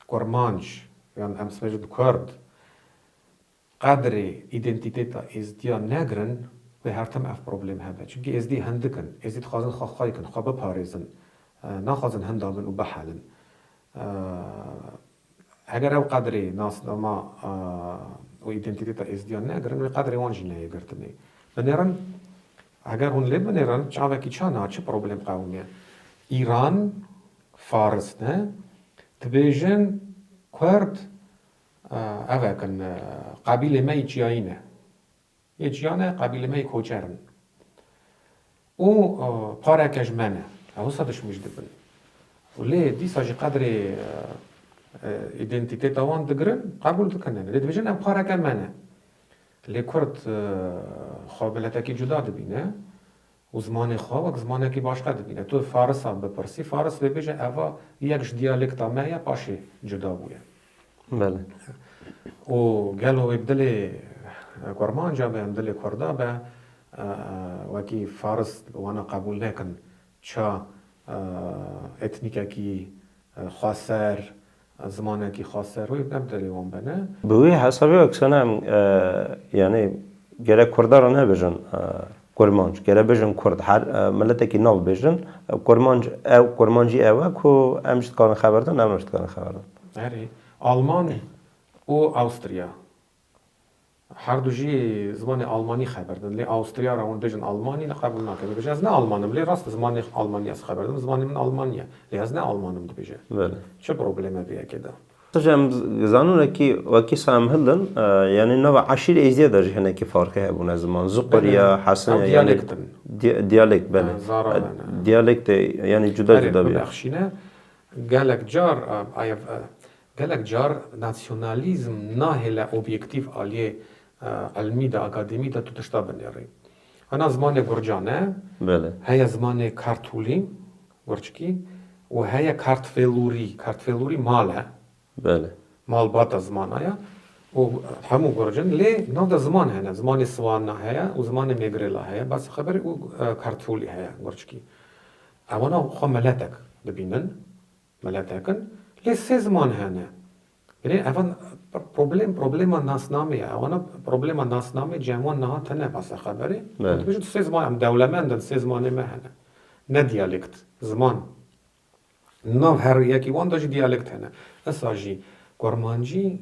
Kurmanc yan em sibê jî kurd qedrê îdentîtêta êzdiyan negirin wê her tim ev problêm hebe. Çimkî êzdî hindik in. Êzdî dixwazin xwe xwe bikin, xwe biparêzin. Naxwazin hinda bin û bihelin. Heger ew qedrê nasnama û îdentîteta Êzidiyan negirin, wê qedrê wan jî neyê girtinê. Binêrin, heger hûn lê binêrin, çavekî ça na, çi problem qewimiye? Îran, Faris ne, dibêjin Kurd, ev e kin, qebîlê me yê çiyayî ne. Yê çiya ne qabîlê me yê koçer in û pareke ji me ne. Ew wisa dişmîj dibin. Lê dîsa jî qedrê îdentîteta wan digirin, qebûl dikin ne. Lê dibêjin ev pareke me ne. Lê kurd xwe meletekî cuda dibîne. û zimanê xwe wek zimanekî baş nedibîne. Tu farisan bipirsî, faris wê bêje eva yek ji diyalekta me ye paşê cuda bûye. Belê. Û gelo wê bi dilê kurmanca be, bi dilê kurda be wekî faris wana qebûl nekin ça etnîkekî xweser Em zimanekî xas ser rûyê em tevî wan bene. Bi wî hesabê aksana em yanî gerek kurda re nebêjin kurmanc, gerek bêjin kurd. Her miletekî nav bêjin kurmanc ew kurmancî ew e ku em ji dikarin xeber din, ew ne ji dikarin xeber din. Erê, Almanî û Awstriya Herdu jî zimanê almanî xeber din. Lê Awustriya re hûn bêjin almanî li qebûl nakin. Dibêje ez ne alman im. Lê rast e zimanê almanî ez xeber dim. Zimanê min almanî ye. Lê ez ne alman im dibêje. Çi problêm e vê yekê de? Qij em dizanin wekî wekî Sam Hildin yanî nava eşîrê Êzidî de jî hinekî farqê hebûne ziman. Zuqur ya, Hesin ya yanî diyalekt bele. Diyalekt e yanî cuda cuda bî. Bexşîne gelek car Gelek car nasyonalîzm nahêle obyektîf aliyê ilmî de, akademî de tu tişta binêrî. Hena zimanê gurcan e, heye zimanê kartûlî, gurçikî û heye kartvelûrî. Kartvelûrî mal e. Malbata zimana ye û hemû gurc in. Lê nav de ziman hene. Zimanê Swana heye û zimanê Mêgrêla heye. Bes xeber e û kartvolî heye gurçikî. Ew hena xwe meletek dibînin. Meletek in lê sê ziman hene. Binê eva problem problema nasnamê ye. Ewana problema nasnamê cem wan niha tene basa xeberê. Em dibêjin tu sê ziman em dewlemend in sê zimanê me hene. Ne diyalekt, ziman. Nav her yekî wan de jî diyalekt hene. Disa jî kurmancî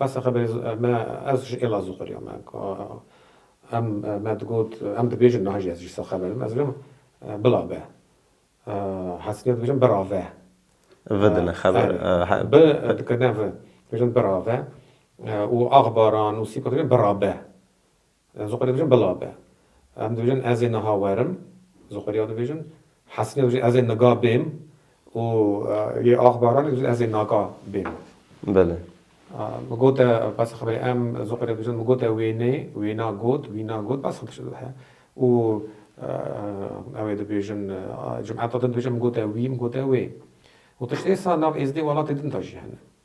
Bes xeber me ez ji Elazığ xweriya me ka em me digot em dibêjin niha jî ez jî sa xeber im ez dibirim bila be hesine dibirim bira ve vi dine xeber bi dikirine vi dibirim bira ve û axbaran û sîpa dibirim bira be. Zoqerî dibêjin bila be. Em dibêjin ez ê niha werim. Zoqerî ew dibêjin. Hesînê dibêjin ez ê niga bêm û yê Axbaranê dibêjin ez ê naga bêm. Belê. Min got e bes e xeberê em Zoqerî dibêjin min got e wênê, wêna got, wîna got bes e û ew ê dibêjin cumeta din dibêjin min got e wî, min got e wê û tiştê sa nav êzdê welatê din de jî hene.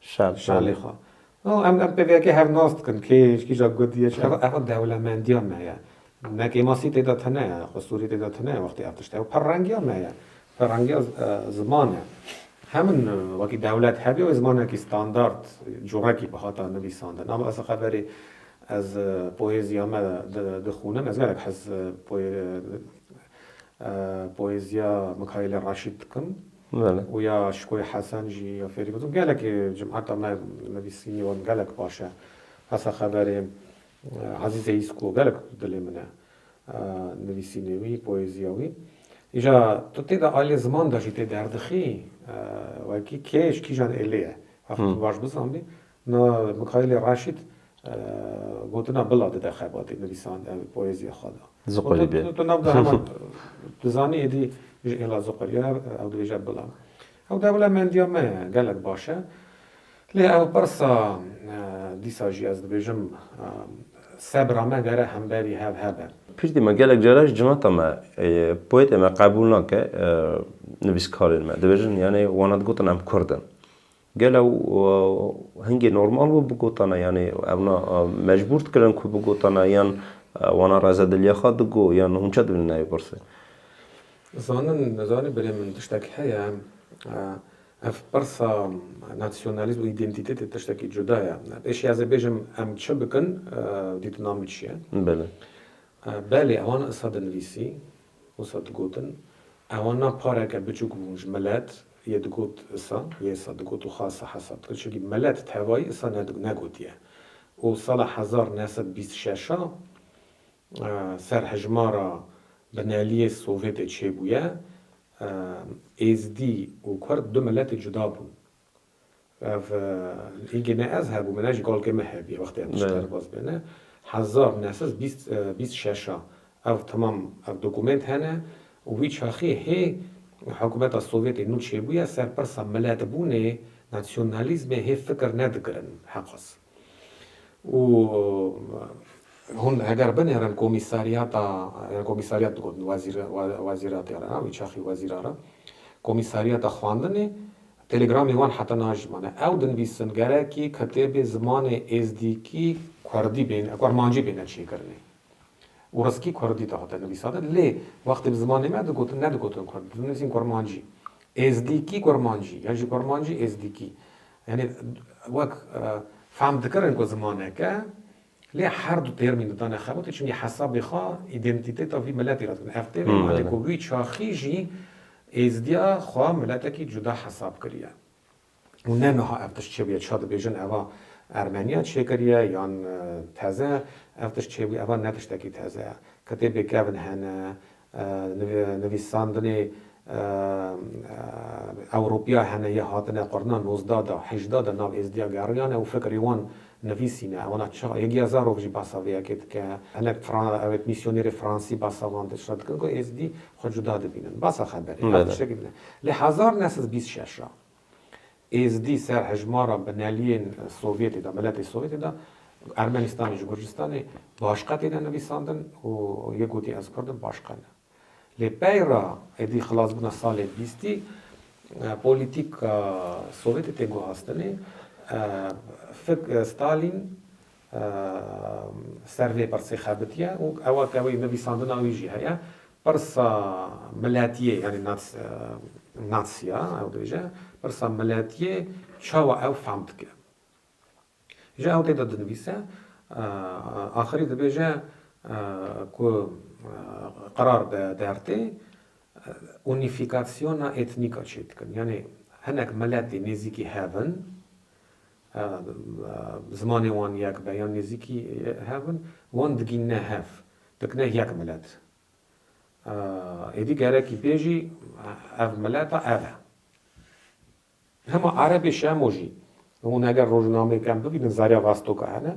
Şal. Şalê xwe. Û em em pêviyekê hev nas dikin kê ji kîjan gundî ye çi. Ev ev dewlemendiya me ye. Ne kêmasî tê de tune ye, xwe sûrî tê de tune ye wextê ev tişt e. Ew pirrengiya me ye. Pirrengiya ziman e. Hemin wekî dewlet hebî wê zimanekî standard curekî bi hata nivîsandin. Ama ez li xeverê ez poêziya me di dixûnim. Ez gelek hez poê poêziya Mikaîlê Raşîd dikim. Belê. Û ya Şikoyê Hesen jî ya fêrî gotin. Gelekî cumheta me nivîsînî wan gelek baş e. Hesa xeberê Ezîzê Îzko gelek bi dilê min e. Nivîsînê wî, poezîya wî. Îja tu tê de ailê ziman de jî tê derdixî. Wekî kêj kîjan êlê ye. Heq tu baş bizanbî. Na Mikaîlê Raşîd gotina bila dide xebatê nivîsand ew poezîya xwe da. Ziqurî bê. Tu navda heman tu zanî êdî ji êla ziqurî ye, ew dibêje bila. Ew dewla mendîya me ye, gelek baş e. Lê ew pirsa dîsa jî ez dibêjim sebra me gere hemberî hev hebe. Pirsî me gelek caran ji cinata me, poetê me qebûl nake nivîskarên me. Dibêjin yanê wana digotin em kurd in. Gelo ew hingê normal bû bigotana yanî ewna mecbûr dikirin ku bigotana yan wana rezediliya xwe digo yan hûn çi dibînin navê pirsê? Zanin zanî birê min tiştek heye em ev pirsa nasyonalîzm û îdentîtetê tiştekî cuda ye. Pêşî ez ê bêjim em çi bikin dîtina min çi ye? Belê. Belê ewani isa dinivîsî. Wisa digotin, ewa na pareke biçûk bûn ji milet, yê digot isa, yê isa digot û xasa hesab dikir çunkî milet tevayî isa negotiye û sala hezar neh sed bîst şeş a ser hejmara bineliyê Sovyetê çêbûye, Êzidî û Kurd du miletê cuda bûn. Ev hîngê ne ez hebûm, ne jî galgê me hebîye wextê em tişt derbas bêne. Hezar neh sed bîst bîst şeş a ev temam ev dokumênt hene û wî çaxê hê hikûmeta Sovyetê nû çêbûye ser pirsa miletbûnê, nasyonalîzmê hê fikir nedikirin heqas. û hûn heger binêrin komîsaryata ya komîsaryat digotin wezîratê re ha wî çaxî wezîra re komîsaryata xwendinê telegramê wan heta najimane ew dinivîsin gerekî kitêbê zimanê êzdîkî kurdî bêne kurmancî bêne çêkirinê û riskî kurdî dihate nivîsate lê wextê bi zimanê me digotin nedigotin kurdî dinivîsin kurmancî êzdîkî kurmancî yan jî kurmancî êzdîkî Yanî wek fehm dikirin ku zimanek e, lê her du têrmî didane xebitî çimkî hesabê xwe îdentîteta vî miletê re dikin. Ev têrmî malê ku wî çaxî jî êzidiya xwe miletekî cuda hesab kiriye. Û ne niha ev tişt çêbûye çiya dibêjin eva Ermeniya çêkiriye yan teze, ev tişt çêbûye eva ne tiştekî teze ye. Kitêbê kevn hene, Nivîsandinê Ewropiya hene ya hatine qurna nozdeh de, hejdeh de nav Êzdiya geriyane û fikirê wan nivîsîne. Wana çi? Yegiya Zarok jî basa vê yekê dike. Hinek ew mîsyonêrê fransî basa wan dişre dikin ku Êzdî xwe cuda dibînin. Basa xeberê. Ev tiştekî din e. Li hezar new sed bîst şeş re Êzidî ser hejmara bineliyên Sovyetê de, miletê Sovyetê de, Ermenistanê ji Gurcistanê başqa têne nivîsandin û yê gotî ez kurd im başqa ne. Lê peyra êdî xilasbûna salê bîstî polîtîka Sovyetê tê guhastinê, fik Stalîn Ser vê pirsê xebitiye û ewa ke wê nivîsandina wî jî heye. Pirsa miletiyê yanî natsiya ew dibêje, pirsa miletiyê çawa ew fehm dike. Ji ew tê de dinivîse axirî dibêje ku qerar bi dertê unîfîkasyona etnîk a çêdikin. Yanî hinek miletê nêzîkî hev in zimanê wan yek be yan nêzîkî hev in, wan digînine hev, dikine yek milet. Êdî gerekî bê jî ev mileta ev e. Hema erebê şemo jî, hûn eger rojnameyê kem bibînin Zarya Vastoka hene,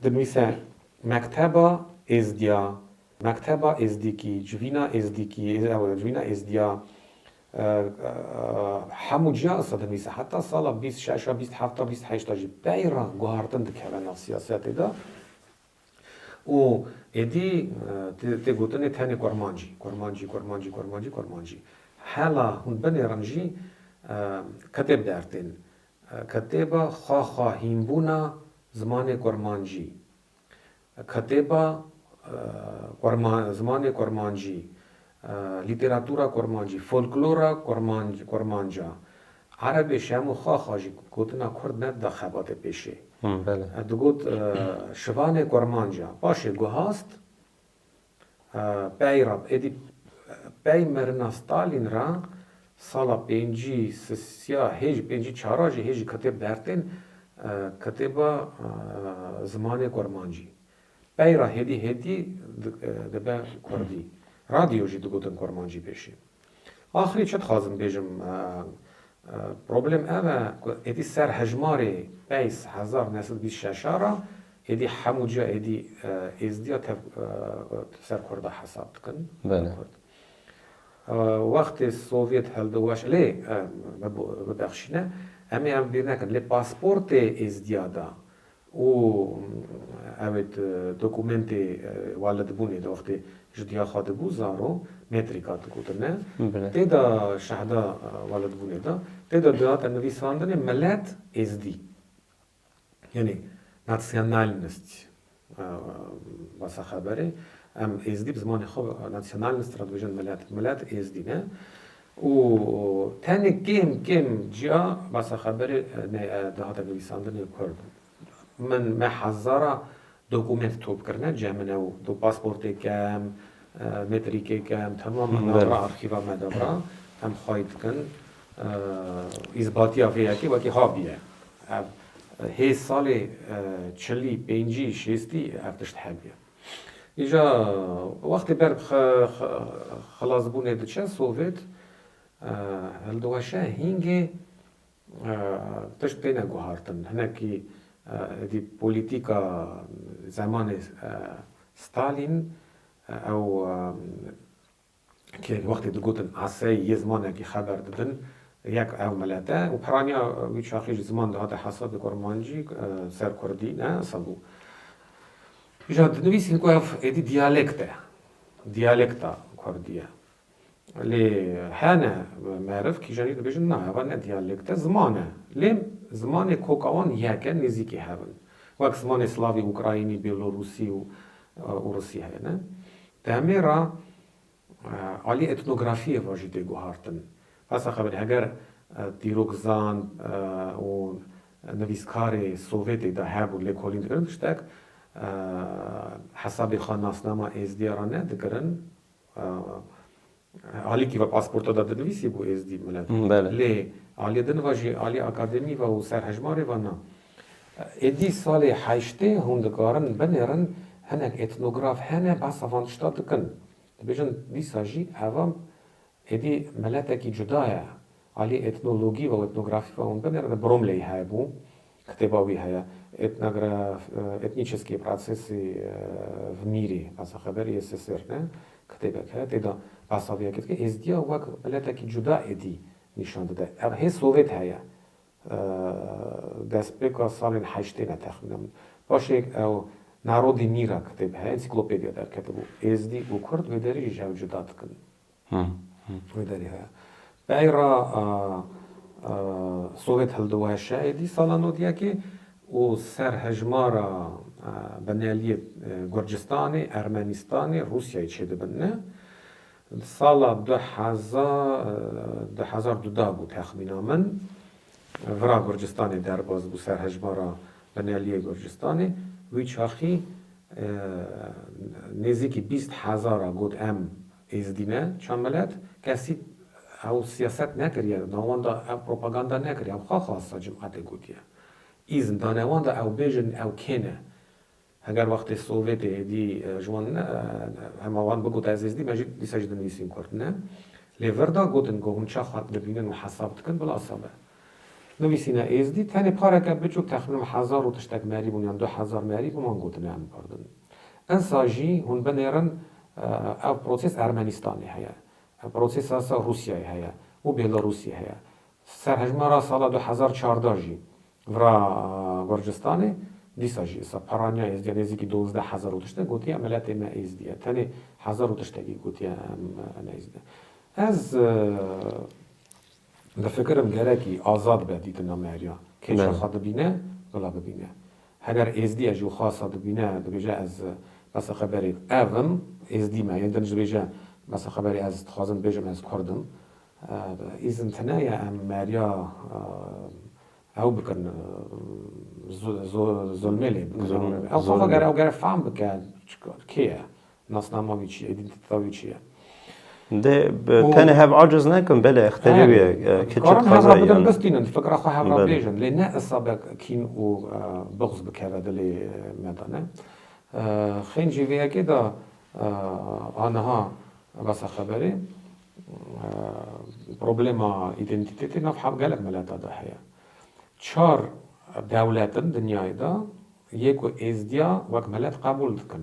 dinivîse Mekteba Êzdiya, Mekteba Êzdîkî, Civîna Êzdîkî, civîna Êzdiya, Hemû cîhana sedemî se heta sala bîst şeş a bîst heft a bîst heşt a jî peyra guhartin dikeve nav siyasetê de û êdî tê gotinê tenê kurmancî, kurmancî, kurmancî, kurmancî, kurmancî. Hela hûn binêrin jî kitêb der tên. Kitêba xwe xwe hînbûna zimanê kurmancî. Ketêba Zimanê Kurmancî, Lîtêratûra Kurmancî, Folklora Kurmanca, Erebê Şemo Xaxa jî gotina Kurd nedida xebatê pêşê. Digot Şivanê Kurmanca. Paşê guhast. Pey ra êdî pey merina Stalîn ra sala pêncî sisiya hê jî pêncî çara jî hê jî kitêb dertên kitêba zimanê kurmancî. Pey ra hêdî hêdî dibe kurdî. Radyo jî digotin kurmancî pêşî. Axirî çi dixwazim bêjim, problem ev e ku êdî ser hejmarê peys hezar neh sed bîst şeş a re êdî hemû ciya êdî êzdiya tev ser kurd a hesab dikin. Kurd wextê sovyet hildo weş lê bibexşîne em ê ev bîr nekin lê pasportê êzdiya da Û ew ê tu dokumentê walidbûnê di wextê ji diya xwe dibû zaro, metrîka dikotine, tê de şehda walidbûnê de, tê de dihate nivîsandinê Milet Êzdî. Yanî Nationalnist basa xeberê. Em Êzdî bi zimanê xwe Nationalnist re dibêjin Milet. Milet Êzdî ne. Û tenê kêm kêm ciya basa xeberê nê dihate nivîsandinê kurd. Min me hezara dokumênt top kirine cih min ew do pasportê kem, metrîkê kem temam min dabra arxîva me dabra em xway dikin îzbatiya vê yekê wekî habiye. Ev hê salê çilî pêncî şêstî ev tişt hebiye. Îja wextê ber bi xilasbûnê diçe Sovêt hildiweşe hîngê tişt têne guhartin. Hinekî êdî polîtîka zemanê Stalîn ew Kê wextê digotin Asey yê zimanekî xeber didin yek ew milete û piraniya wî çaxî ji ziman dihate hesab li kurmancî ser kurdî ne hesab bû. Îja dinivîsîn ku ev êdî diyalekt e, diyalekta kurdî ye. Lê hene meriv kîjan jî dibêjin na eva ne diyalekt e ziman e. Lê zimanê koka wan yek e nêzîkî hev in. Wek zimanê slavî, ukrayînî, bêlorûsî û rûsî heye ne. Demê re aliyê etnografiyê ve jî tê guhartin. Bes e qebel heger dîrokzan û nivîskarê Sovyetê de hebûn lê kolîn dikirin tiştek hesabê xwe nasnama êzdîya re nedikirin Alîkî ve pasporta de dinivîsî bû Êzdî Milet. Lê alî din ve jî alî akademî ve û ser hejmarê ve na. Êdî salê heştê hûn dikarin binêrin hinek etnograf hene behsa van tişta dikin. Dibêjin dîsa jî eva êdî miletekî cuda ye. Alî etnologî ve û etnografî ve hûn binêrin bi Bromleyî hebû. Kitêba wî heye Ethnograph Ethnicheskiy Protsesy v Mîrê, Basa Xeberê yê Sisirne, kitêbek heye tê de basa vê yekê dike, Êzidiya wek miletekî cuda êdî nîşan dide. Ev hê sovêt heye destpêka salên heştên e texmînan min. Paşê ew Narodî Mîra kitêb heye, ensiklopediya derketibû. Êzidî û Kurd vê derê jî ji hev cuda dikin. Wê derê heye. Peyra Sowêt hildiweşe êdî sala nod yekê û ser hejmara bineliyê Gurcistanê, Ermenîstanê, Rûsyayê çêdibinne. Di sala du hezar du da bû texmîna min, vira Gurcistanê derbas bû ser hejmara bineliyê Gurcistanê. Wî çaxî nêzîkî bîst hezara got em Êzidî ne, Çandmilet, kesî ew siyaset nekiriye, navanda ew propaganda nekiriye, ew xwe xwasta Cum'atê gotiye. Îzn da navanda ew bêjin ew kê ne. Heger wextê Sovyetê êdî ji wan hema wan bigota ez Êzidîm ez jî dîsa jî dinivîsîm Kurd ne. Lê vir da gotin ku hûn çaxa dibînin û hesab dikin bila sebe. Nivîsîna Êzdî tenê pareke biçûk texmînan hezar û tiştek merî bûn yan du hezar merî û wan gotine em pardon. Ensa jî hûn binêrin ev prosês Ermenîstanê heye, prosêsa sa Rûsyayê heye û Bêlarûsê heye. Serhejmara sala du hezar û çardeh jî vira Gurcistanê dîsa jî sa peranya Êzdîya nêzîkî duwazdeh hezar û tiştek gotiye miletê me Êzdî ye. Tenê hezar û tiştekî gotiye em ne Êzdî. Ez Difikirim gerekî azad be dîtina me ya kê şaxa dibîne bila bibîne. Heger êzdiyek ji xasa dibîne dibêje ez besa xeberê ev im, êzdî me yên din dibêje besa xeberê ez dixwazim bibêjim ez kurd im. Îzin tune ye em me ya ew bikin zolmê lê bikin. Ew xwe gere ew gere fehm bike kê ye Nasnama wî çi ye? Îdîntîteta wî çi ye? Dê tenê hev aciz nekin, belê exterî wî ye, kiçik xwezayê yan e. Dikarin hev re bidin bistînin, tu fikira xwe hev re bêjin, lê ne isabek kîn û buxz bikeve dilê me de ne. Xên jî vê yekê de aniha besa xeberê problema îdîntîtetê nav hev gelek milete de heye. Çar dewlet in dinyayê de yê ku êzdîya wek milet qebûl dikin.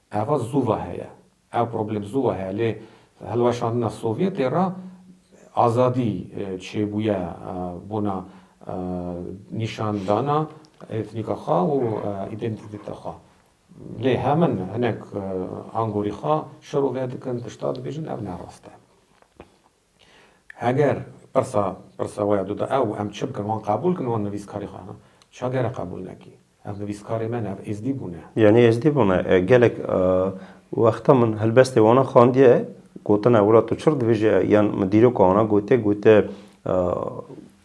Eva zû ve heye. Ev problem zû ve heye. Lê hilweşandina Sovyetê re azadî çêbûye bona nîşandana etnîka xwe û îdentîteta xwe. Lê hemin hinek angorî xwe şerove dikin, tişta dibêjin ev ne rast e. Heger pirsa pirsa we ya du da ew, em çi bikin? Wan qebûl kin wan nivîskarî xwe hene? Ça gere qebûl nekî? Ev nivîskarê me ne, ev êzdî bû ne. Yanî êzdî bû ne. Gelek wextan min helbestê wana xandiye, gotine wila tu çir dibêje yan min dîroka wana gotiye, gotiye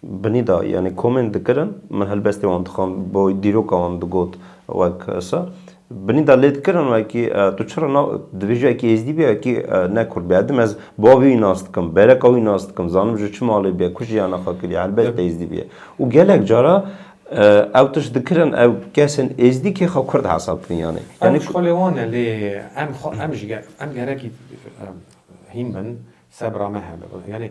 Binî da yanî komên dikirin min helbestê wan dixwend bo dîroka wan digot wek sa binî da lê dikirin wekî tu çira na divê ji wekî êzdî bî wekî ne kurd bî hedim ez bavê wî nas dikim bereka wî nas dikim zanim ji çi malê bîye ku jiyana xwe kiriye helbet êzdî bîye û gelek cara ew tişt dikirin ew kesên êzdî kê xwe kurd hesab kirin yanî yanî ew ji xwe lê wan e lê em xwe em ji em gerekî hîn bin sebra me hebe yanî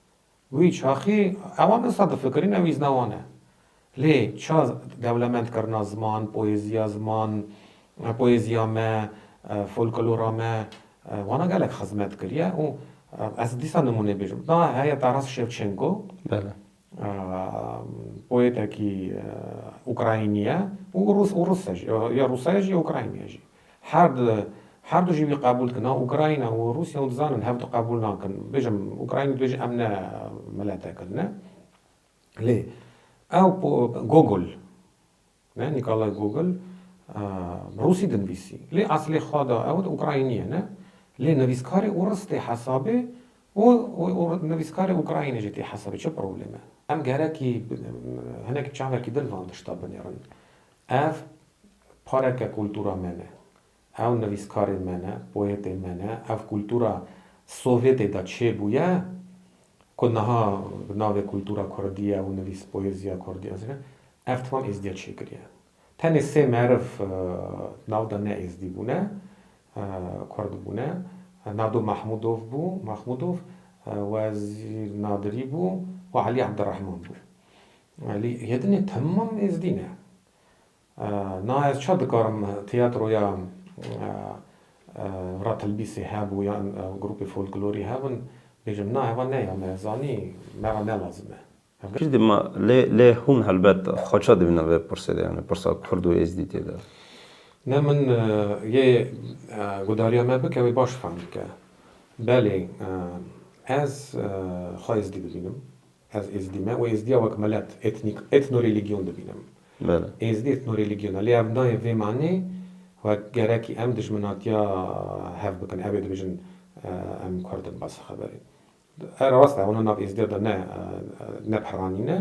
Wî çaxî ewan disa difikirîn ew îzna wan e. Lê ça dewlemend kirina ziman, poêziya ziman, poêziya me, folklora me wana gelek xizmet kiriye û ez dîsa nimûne bêjim da heye Taras Şevçenko poêtekî ukraynî ye û rûs e jî ya rûsa ye jî ya ukraynî ye jî. Her du her du jî wî qebûl dikina. Ukrayna û Rûsya hûn dizanin hev du qebûl nakin. Bêjim Ukrayna dibêje em ne miletekir ne. Lê ew po Gogol ne Nîkolay Gogol rûsî dinivîsî. Lê eslê xwe da ew di Ukraynî ye ne. Lê nivîskarê ûrus tê hesabê û nivîskarê Ukraynî jî tê hesabê. Çi probleme? Em gerekî hinekî çavekî din van tişta binêrin. Ev Pareke kultura me ne. Ew nivîskarên me ne, poetên me ne. Ev kultura Sovyetê de çêbûye ku niha bi navê kultura kurdî ye û nivîs poeziya kurdî ez dikim. Ev temam êzdiya çêkiriye. Tenê sê meriv di nav de ne êzdî bûne, kurd bûne. Nado Mahmûdov bû, Mahmudov, Wezîr Nadirî bû û Elî Ebdirehman bû. Elî, yê din e temam êzdî ne. Na ez ça dikarim tîyatroya Ratilbîsê hebû yan grûpê folklorî hebin bêjim na heva ne ya me zanî me ra ne lazim e. Kî didê ma lê lê hûn helbet xwe ça dibîne vê pirsê de yanî pirsa kurd û êzdî tê de? Ne min yê gudariya me bike wê baş fehm bike. Belê ez xwe êzdî dibînim. Ez Êzdî me û Êzdiya wek milet, etnîk, etnorelîgyon dibînim. Êzdî etnorelîgyon e lê ev nayê vê manê ku gerekî em dijminatiya hev bikin. Ew ê dibêjin em kurd in bes xeberê. Ev rast e, wana nav Êzdiya de ne ne piranîn e.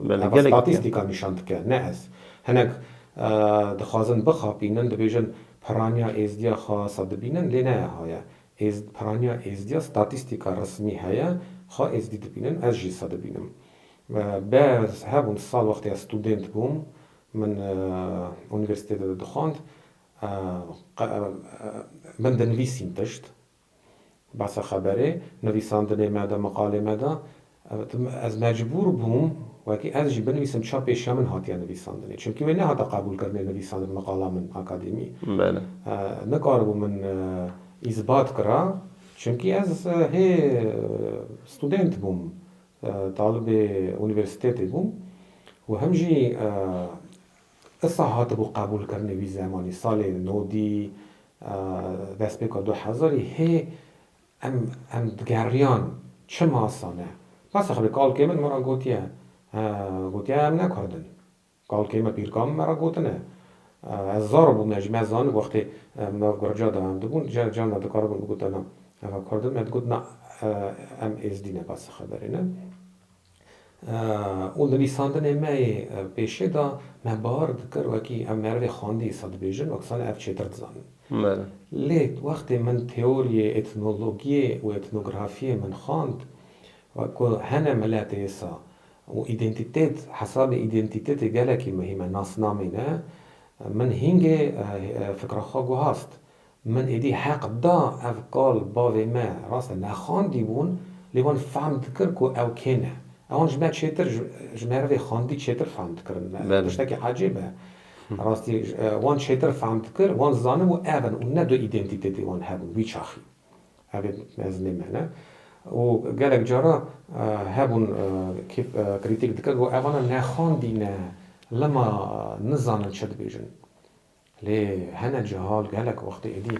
Ev statîstîka nîşan dike ne ez. Hinek dixwazin bixapînin dibêjin piraniya Êzdiya xasa dibînin lê ne eha ye. Êzd, piraniya Êzdiya statîstîka resmî heye, xwe Êzdî dibînin, ez jî se dibînim. Be hebûn sal wextê ez studênt bûm, min unîversîtê de dixwand, min dinivîsîn tişt, behsa xeberê, nivîsandinê me de, meqalê me de, Ez mecbûr bûm wekî ez jî binivîsim çap pêşiya min hatiye nivîsandinê. Çimkî wê nehata qebûlkirinê nivîsandin meqala min akademî. Nikaribû min îsbat kira çimkî ez hê student bûm, talibê unîversîtetê bûm û him jî isa hatibû qebûlkirinê wî zemanî salê nodî destpêka du hezarî hê Em em digeriyan çi masa ne. Masa xwe bi kalkê min me re gotiye, gotiye em ne kurd in. Kalkê me pîrka min me re gotine. Ez zaro bûm ne jî me zanibû wextê em nav gurca de dibûn di car car de dikaribûn bigotin na eva kurd in me digot na em êzdî ne basa xeberê ne. Û li nivîsandinê me yê pêşê de me bar dikir wekî ev merivê xwendî sal dibêjin wek sal ev çêtir dizanin. Lê wextê min teoriyê etnologiyê û etnografiyê min xwend wek ku hene milet êsa û îdentitet hesabê îdentitetê gelekî muhîm e nasnamê ne min hîngê fikra xwe guhast Min êdî heq da ev qal bavê me rast e nexandîbûn lê wan fehm dikir ku ew kê ne. Ewan ji me çêtir ji merivê xandî çêtir fehm dikirin me tiştekî ecêb e. Rastî wan çêtir fehm dikir wan zanibû ev in û ne du îdentîtetê wan hebûn wî çaxî. Ev ê mezimê me ne û gelek cara hebûn kê krîtîk dikir ku evana nexandî ne lima nizanin çi dibêjin. Lê hene cihal gelek wextê êdî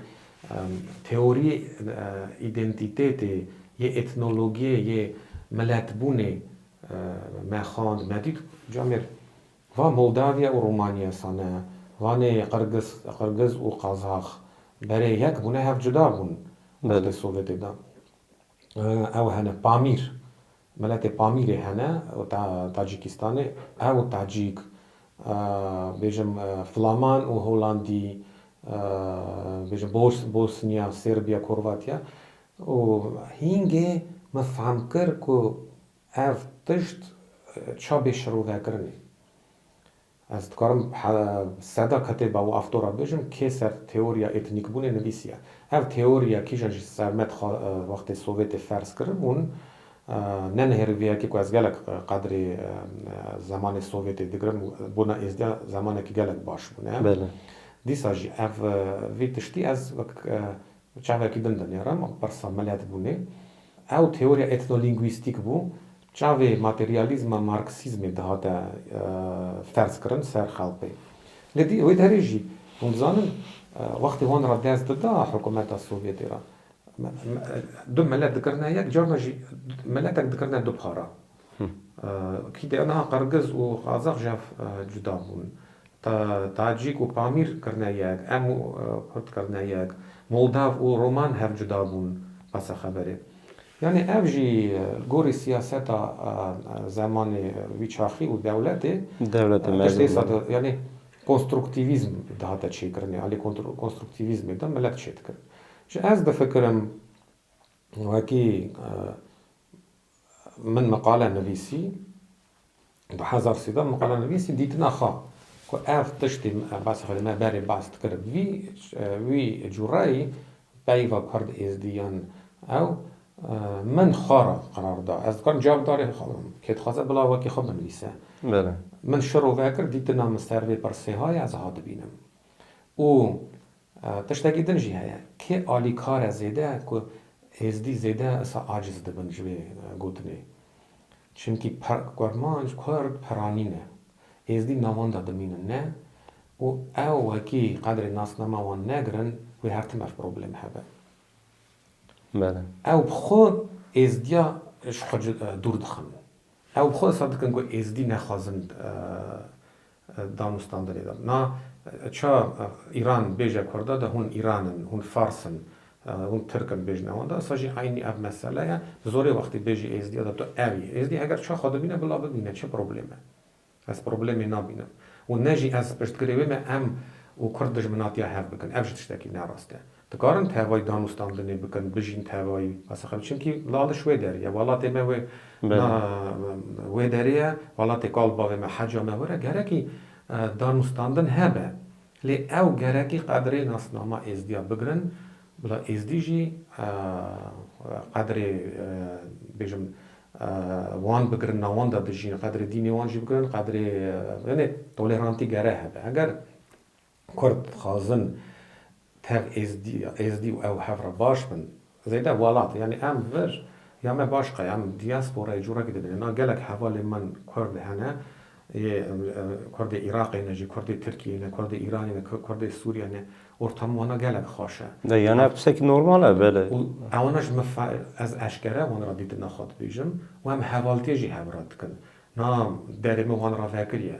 teoriyê îdentîtetê yê etnologiyê yê miletbûnê me xwend, me dît ca mêr va Moldaviya û Romaniya sane, vanê Qirgiz, Qirgiz û Qazax berê yek bûne hev cuda bûn wextê Sovyetê de. Ew hene Pamîr, miletê Pamîrê hene û ta Tacîkîstanê. Ew Tacîk, bêjim Flaman û Holandî, bêjim Bos Bosniya, Serbiya, Korvatiya û hîngê min fehm kir ku ev tişt ça bê şirovekirinê. Ez dikarim seda ketê bi ew aftora bijim kê ser teoriya etnîkbûnê nivîsiye. Ev teoriya kîjan jî Sermet xwe wextê Sovyetê ferz kiribûn. Ne nihêrî vê yekê ku ez gelek qedrê zemanê Sovyetê digirim û bona Êzdiya zemanekî gelek baş bûne. Dîsa jî ev vî tiştî ez wek çavekî din dinêrim. Pirsa miletbûnê ew teoriya etnolîngwîstîk bû. Çavê materyalîzma marksîzmê dihate ferzkirin ser xelkê. Lê di wê derê jî hûn dizanin wextê wan re dest dida hikumeta Sovyetê re du milet dikirine yek, carna jî miletek dikirine du para. Kî de niha qirgiz û qazax ji hev cuda bûn. Tacîk û Pamîr kirine yek, em û Kurd kirine yek, Moldav û Roman hev cuda bûn besa xeberê. Yanî ev jî li gorî siyaseta zemanê wî çaxî û dewletê tiştê sed û yanî konstruktîvîzm dihate çêkirinê, alî konstruktîvîzmê de milet çêdikirin. Ji ez difikirim wekî. Min meqale nivîsî, du hezar sîda meqale nivîsî dîtina xwe ku ev tiştî bes xwedî me berê bes dikir. Vî wî cûreyî peyva kurd êzdî yan ew min xwe re qerar da. Ez dikarim cavdarê kê dixwaze bila wekî xwe binivîse. Min şiro vekir dîtina min ser vê pirsê haya ez hatibînim. Û Tiştekî din jî heye, kê alîkar e zêde ku Êzidî zêde wisa aciz dibin ji vê gotinê. Çimkî Kurmanc, Kurd peranî ne. Êzidî navan de dimînin ne û ew wekî qedrê nasnama wan negirin wê her tim ev probleme hebe. Ew bi xwe Êzidiya ji xwe dûr dixin. Ew bi xwe wisa dikin ku Êzidî nexwazin Dan û stan derê dan. Na ça Îran bêje Kurda de hûn Îran in, hûn Fars in, hûn Tirk in bêjne wan de. Esa jî eynî ev mesele ye. Bi zorê wextî bêjî Êzdiya de tu ev yî. Êzdî heger ça xwe bimîne bila bimîne çi problem e? Ez problemê nabînim. Û ne jî ez piştgirê wê me em û Kurd dijminatiya hev bikin. Ev jî tiştekî ne rast e. Dikarin tevayî danûstandinê bikin, bijîn tevayî. Aseqîm çimkî laliş wê derê ye. Welatê me wê na wê derê ye. Welatê kal bavê me heca me were gerekî danûstandin hebe. Lê ew gerekî qedrê nasnama êzdiya bigirin. Bila êzdî jî qedrê bêjim wan bigirin na wan de dijîn. Qedrê dînê wan jî bigirin. Qedrê yenê tolerantî gere hebe. Eger Kurd dixwazin tev êzdî û ew hev re baş bin. Zêde walat yanî em vir ya me baş qe em dîasporayê corekî dibînin. Na gelek hevalên min kurd hene yê kurdê Îraqê ne jî kurdê Tirkiyeyê ne kurdê Îranê ne kurdê Sûriyeyê ne ortam wan a gelek xweş e. De yan ev qisek normal e belê. Û ewana ji min ez eşkere wan re dîtina xwe dibêjim û em hevaltiyê jî hev re dikin. Na derê min wan re vekiriye.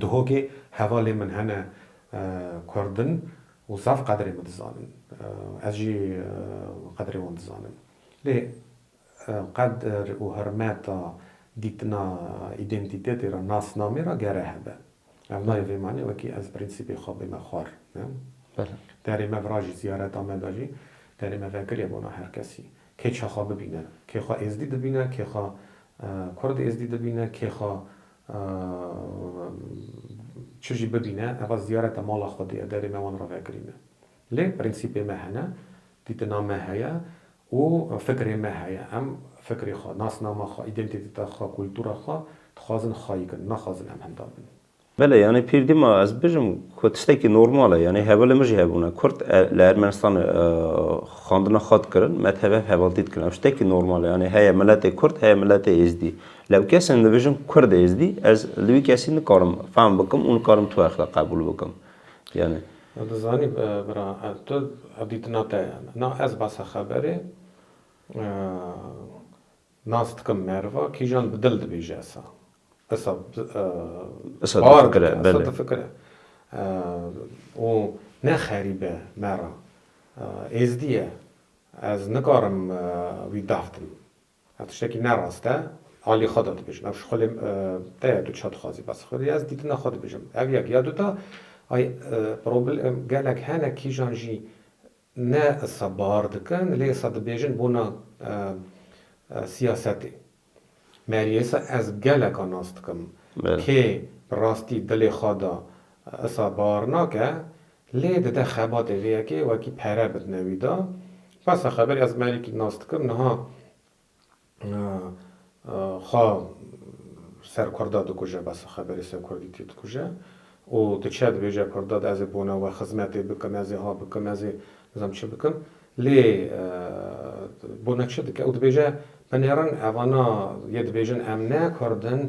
Duhokê hevalên min hene kurd in û zaf qedrê min dizanin. Ez jî qedrê wan dizanim. Lê qedr û hirmeta dîtina îdentîtetê re, nasnamê re gere hebe. Ev nayê vê manê wekî ez prensîpê xwe bime xwar. Derê me vira jî ziyareta me de jî derê me vekirî ye bona her kesî. Kê çaxa bibîne, kê xwe êzdî dibîne, kê xwe kurd êzdî dibîne, kê xwe Çi jî bibîne eva ziyareta mala Xwedê ye, derê me wan re vekirîne. Lê prensîpê me hene, dîtina me heye û fikrê me heye. Em fikrê xwe, nasnama xwe, îdentîteta xwe, kultura xwe dixwazin xayî kin, naxwazin em hemdar bin. Belê yanî pîr dîma ez bijim ku tiştekî normal e. Yanî hevalê min jî hebûne. Kurd li Ermenistanê xwendina xwe dikirin, me tev hev hevaltî dikin. Ev tiştekî normal e. Yanî heye miletê kurd, heye miletê êzdî. Lê kesên dibêjin Kurd e Êzdî, ez li wî kesî nikarim fehm bikim û nikarim tu exla qebûl bikim. Yanî. Tu dizanî bira ez tu ev dîtina te ye. Na ez basa xeberê nas dikim meriva kîjan bi dil dibêje esa. Esa bar dike esa difikire. Û ne xerî be me re. Êzdî ye. Ez nikarim wî dahtim. Ev tiştekî ne rast e. Alî xwe de dibêjim. Ev ji xwe lê te ye. Tu çi dixwazî bes xwe dî. Ez dîtina xwe dibêjim. Ev yek. Ya duta, ay problem gelek hene kîjan jî ne issa bar dikin lê issa dibêjin bona siyasetê meriyê. Issa ez geleka nas dikim. Kê bi rastî dilê xwe de issa bar nake Lê dide xebatê vê yekê wekî pere bidine wî de. Basa xeberê ez merikî nas dikim niha xwe ser kurd de dikuje basa xeberê ser kurdî tê dikuje û diçe dibêje kurda de ez ê bona we xizmetê bikim ez ê ha bikim ez ê nizam çi bikim lê bona çi dike û dibêje binêrin evana yê dibêjin em ne kurd in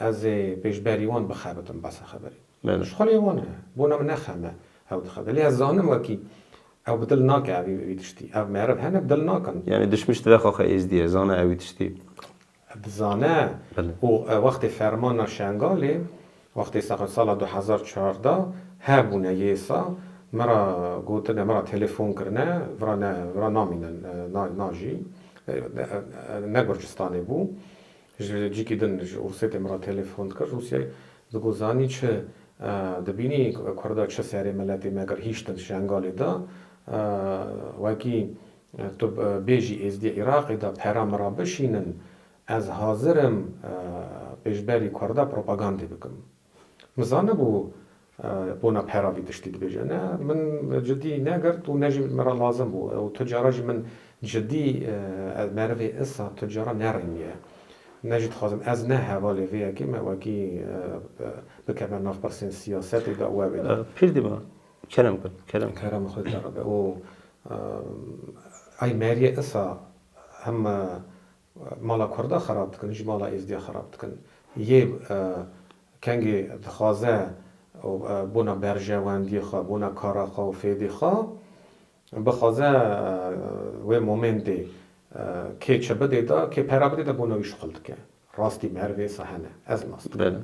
ez ê pêşberî wan bixebitim basa xeberê. Me ji xwe lê wan e. Bona min nexeme. Ew dixebitin. Lê ez zanim wekî ew bi dil nake ev vî tiştî. Ev meriv hene bi dil nakin. Yanî dişmiş dibe xaxa Êzdiyê. Zane ew vî tiştî. Dizane. Û wextê fermana Şengalê, wextê saqin sala du hezar û çardeh hebûne yêsa min ra gotine, min ra telefon kirine, vira ne, vira namînin, na, na jî ne Gurcistanê bû. Ji cîkî din ji Ursê tê min re telefon dikir. Rûsye di got zanî çi dibînî kurda çi serê miletê me kir hîştin Şengalê de wekî tu bêjî êzdî Iraqê de pera min re bişînin ez hazir im pêşberî kurda propagandê bikim. Min zanibû bona pera vî tiştî dibêje. Ne min cidî negirt û ne jî min re lazim bû. Ew tu cara ji min cidî ez merivê isa tu cara nerêniye. Ne jî dixwazim ez ne hevalê vê yekê me wekî bikeve nav pirsên siyasetê de û ew ê. Pir dima kerem kir. Kerem. Kerema xwe dide re be û ay meriye isa him Mala Kurda xerab dikin, ji mala Êzidiya xerab dikin. Yê kengê dixwaze bona berjewendiyê xwe, bona kara xwe û fêdê xwe bixwaze wê momêndê kê çi bidê de, kê pera bidê de bona wî şixul dike. Rastî bi her vê hene. Ez nas dikim.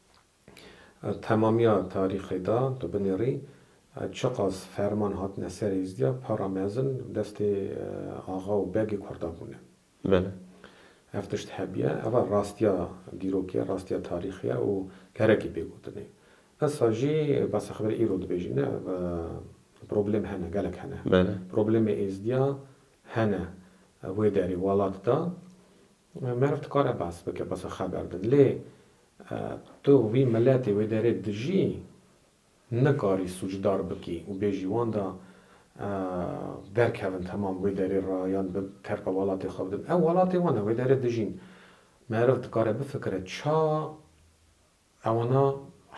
Temamiya tarîxê da tu binêrî çiqas ferman hatine ser hêzdiya para mezin destê axa û begê kurda bûne. Belê. Ev tişt hebiye, ev a rastiya dîrokê ye, rastiya tarîxê ye û gerekî pê gotinê. Esa jî besa xeber îro dibêjin ne ev problêm hene, gelek hene. Belê. Problêmê hêzdiya hene wê derê welat da meriv dikare behs bike besa xeber din. Lê Tu wî miletê wê derê dijî nikarî sûcdar bikî û bêjî wan da derkevin temam wê derê ra yan bi terka welatê xwe bidin. Ew welatê wan e, wê derê dijîn. Meriv dikare bifikire ça ewana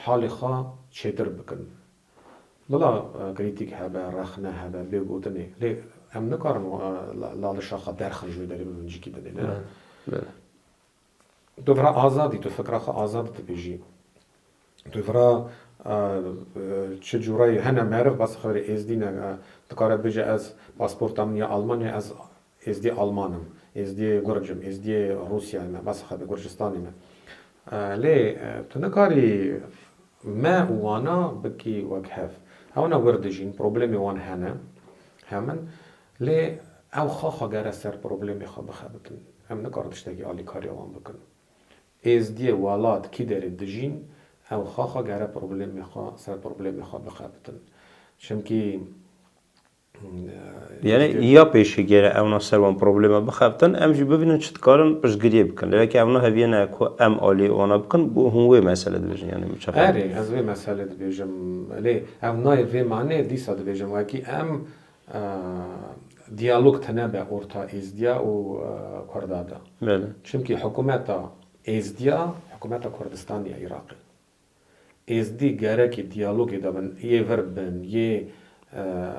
halê xwe çêtir bikin. Bila krîtîk hebe, rexne hebe, bêgotinê lê em nikarin lalişa xwe derxin ji wê derê bibin cikî dinê ne. Tu vira azad î, tu fikra xwe azad dibêjî. Tu vira çi curayî hene meriv bes xwe rê êzdî ne dikare bêje ez pasporta min ya alman e ez êzdî alman im, êzdî gurc im, êzdî Rûsyayê me bes xwe gurcistanê me. Lê tu nikarî me û wana bikî wek hev. Hewna wir dijîn, problemê wan hene hemin. Lê ew xwe xwe gere ser problemê xwe bixebitin. Em nikarin tiştekî alîkariya wan bikin. Êzdiyê welat kî derê dijîn, ew xwe xwe gere problemê xwe ser problemê xwe bixebitin. Çimkî Yanî tiştê. ya pêşî gere ewna ser wan probleme bixebitin, em jî bibînin çi dikarin piştgiriyê bikin. Lê weke ewna heviyene ku em alîyê wana bikin, bo hûn wê mesele dibêjin yanî min çaxê. Erê, ez vê mesele dibêjim. Lê ew nayê vê manê dîsa dibêjim wekî em Diyalog tene be orta Êzidiya û Kurda de. Çimkî hikûmeta Êzidiya hikûmeta Kurdistanê ye Iraqê. Êzidî gerekî diyalogê de bin, yê vir bin, yê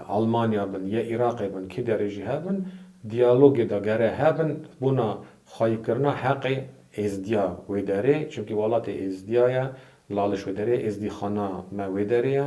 Almanya bin, yê Iraqê bin, kî derê jî hebin, diyalogê de gere hebin bona xwayîkirina heqê Êzidiya wê derê. Çimkî welatê Êzidiya ye, laliş wê derê ye, Êzidîxana me wê derê ye.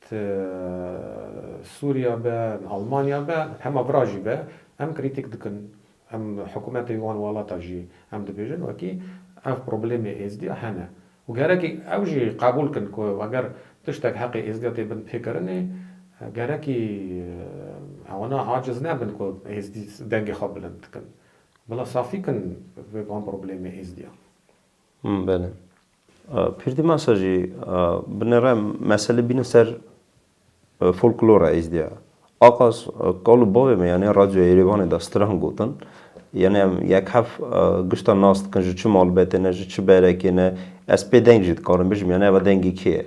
Ti Sûriya be, Almanya be, hema bira jî be, em krîtîk dikin, em hikûmetê wî wan welata jî em dibêjin wekî ev problemê Êzidiya hene û gerekî ew jî qebûl kin ku eger tiştek heqê Êzidiya tê bin pêkirinê gerekî ewna aciz nebin ku Êzidî dengê xwe bilind dikin. Bila safî kin vê van problemê Êzidiya. Belê. Pîrdimasa jî bi nere meselê bîne ser folklora êzdiya. Aqas kal û bavê me yanê Radyoya Yêrêvanê de stran gotin. Yanê em yek hef gişta nas dikin ji çi malbetê ne, ji çi berekê ne. Ez pê deng jî dikarim bijim yanê eva dengê kê ye.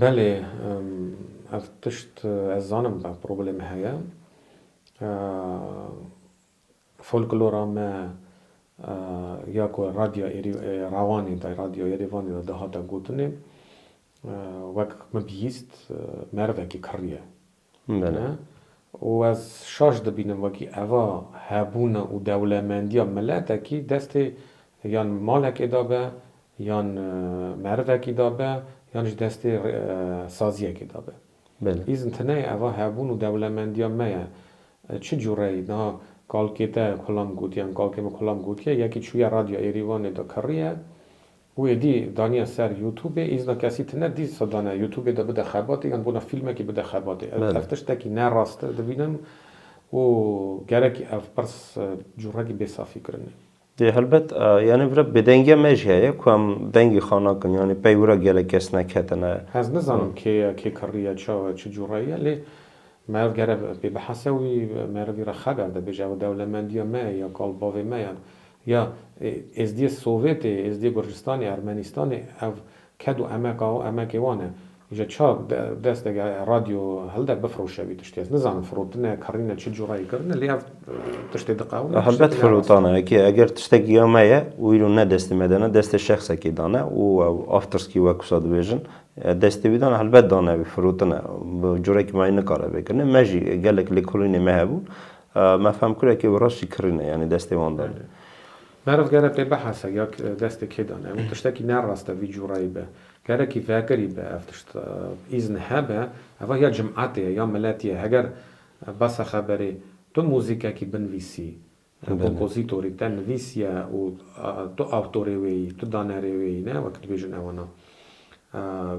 Belê, ev tişt ez zanim ev problême heye. Folklora me ya ku radya Rawanê de, radya Yerêvanê de dihate gotinê, wek min bihîst merivekî kirrî ye. Bele. Û ez şaş dibînim wekî eva hebûna û dewlemendiya miletekî destê yan malekê de be, yan merivekî de be, yan jî destê saziyekê de be. Bele. Îzin tune ye eva hebûn û dewlemendiya me ye. Çi cûreyî? Niha kalkê te kulam gotiye, em kalkê me kulam gotiye, yekî çûye Radyoya Êrîvanê de kiriye, Û êdî daniye ser youtubê îzna kesî tine dî sa dane youtubê de bide xebatê yan bona fîlmekî bide xebatê ev ev tiştekî ne rast e dibînim û gerekî ev pirs curekî bêsafî kirine. Dê helbet yanî vira bêdengiya me jî heye ku em dengî xwe nakin yanî pey wira gelek kes neketine. Ez nizanim kê ye kê kirriye çaw e çi cure ye lê meriv gere pê bihese wî meriv vîra xeber de bêje ew dewlemendiya me ye ya kal bavê me ye Ya Êzdiyê Sovetê, Êzdiyê Gurcistanê, Ermenistanê ev ked û emeka û emekê wan e. Îja ça desteke radyo hilde bifroşe vî tiştî. Ez nizanim firotine, kirîne çi cureyê kirine lê ev tiştê diqewime tiştekî ne rast e. Helbet firotane wekî ye. Eger tiştekî ya me ye û îro ne destê me de ne destê şexsekî dane û ew afterski wek wisa dibêjin destê wî dane helbet dane wî firotine. Bi curekî mayî nikare vê kirinê. Me jî gelek lêkolînê me hebûn Me fehm kir ekê wireş jî kirî ne yanî destê wan de ne. Meriv gere pê bihese ya destê kê de ne. Ew tiştekî ne rast e vî cureyî be. Gerekî vekirî be ev tişt. Îzn hebe eva ya cimetê ye ya miletî ye. Heger besa xeberê tu muzîkekî binvîsî kompozîtorî te nivîsiye û tu awtorê wê yî, tu danerê wê yî ne wek dibêjin ewana.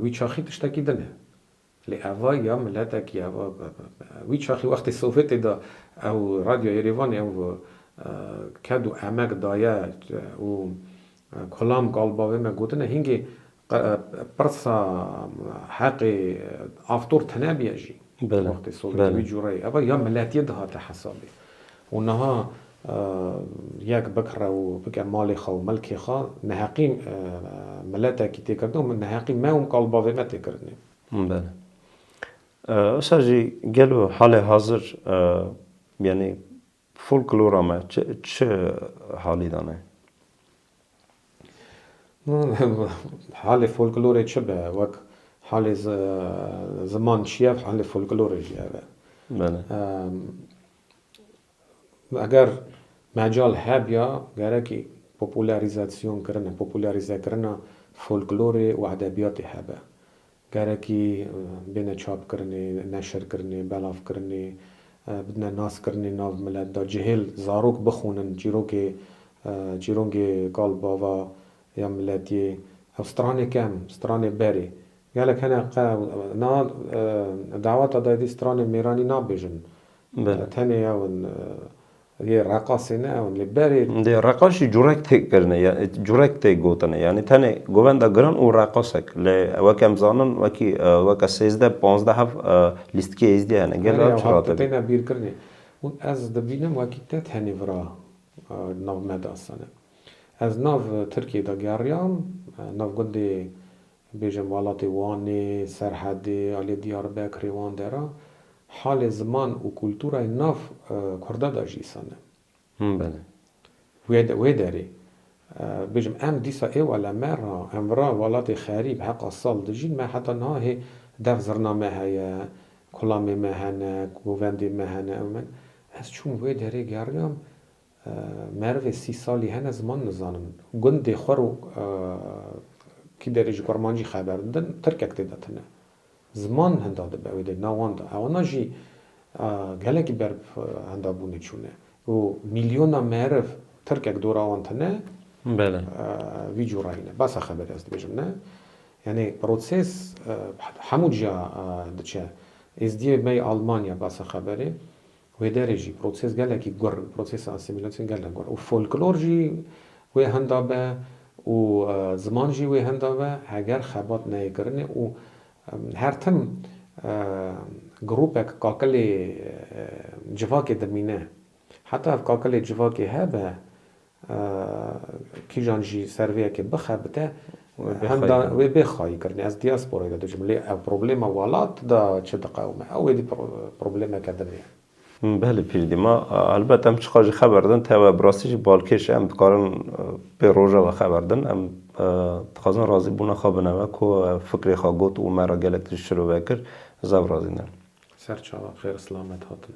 Wî çaxî tiştekî din e. Lê eva ya miletekî ye. Eva wî çaxî wextê Sowetê de ew Radyo Yerêvanê ew ked û emek daye û kolam galiba vê me gotine hingê pirsa heqê aktor tenebîye jî wextê Sowetê wî cûreyê eva ya miletiyê dihate hesabê. Û niha yek bikre û bike malê xwe û milkê xwe, neheqî miletekî tê kirine û min neheqî me û mikalbavê me tê kirine. Belê. Wisa jî gelo halê hazir yanî folklora me çi halî de ne? Halê folklorê çi be, wek halê ziman çi ye, halê folklorê jî ev e. Belê. Eger mecal hebya gerekî popularizasyonkirina, popularizekirina folklorê û edebiyatê hebe. Gerekî bêne çapkirinê, neşirkirinê, belavkirinê, bidine naskirinê nav milet de. Cihêl zarok bixwînin çîrokê, çîrongê kal bava ya miletiyê. Ew stranê kem, stranê berê. Gelek hene qe niha daweta dayîdî stranên mêranî nabêjin tenê ew in yê reqasê ne ew in lê berê. Dê reqas jî curek tê kirine ya curek tê gotine yanî tenê govenda giran û reqasek lê wek em zanin wekî weke sêzdeh panzdeh hev lîstikê êzdî hene gelê ew çi rate bî. Têne bîrkirinê hûn ez dibînim wekî te tenê vira nav me de asane ez nav tirkiyê de geriyam nav gundê Bêje malatê Wanê, Serhedê, alê Diyarbekirê wan dera halê ziman û kulturayê nav Kurda da jî îsan e. Him bene. Wê derê, bêjim em dîsa ê wala me ra, em vira walatê xerîb heqa sal dijîn, me heta niha hê dev zirna me heye, kulamê me hene, govendê me hene, ez çûm wê derê geriyam Merivê sî salî hene ziman nizanin. Gundê xwe ro kî derê ji kurmancî xeber didin, tirkek tê de tune. Ziman hinda dibe wê dê nawan de. Ewana jî gelekî ber bi hindabûnê çûne. Û mîlyona meriv tirkek dora wan tune vî cûrayî ne. Besa xeberê ez dibêjim ne. Yanî prosês hemû ciya diçe. Êzdiyê me yê Almanya besa xeberê. Wê derê jî proses gelekî gur in, prosesa asîmîlasyon gelek gur û folklor jî wê henda be û ziman jî wê henda be heger xebat neyê kirinê û her tim grûpek kakilê civakê dimîne. Heta ev kakilê civakê hebe Kîjan jî servêyekê bixebite wê bê xayî kirinê. Ez diasporayê de dijim lê ev problema welat de çi diqewime? Ew êdî problemeke din e. Belê pîrdî ma helbet em çiqas jî xeber din tewe bi rastî jî balkêş e em dikarin pê roja ve xeber din. Em dixwazin razîbûna xwe bineve ku fikrê xwe got û me re gelek tişt şirove kir. Ez ev razî ne. Serçava xêr silamet hatin.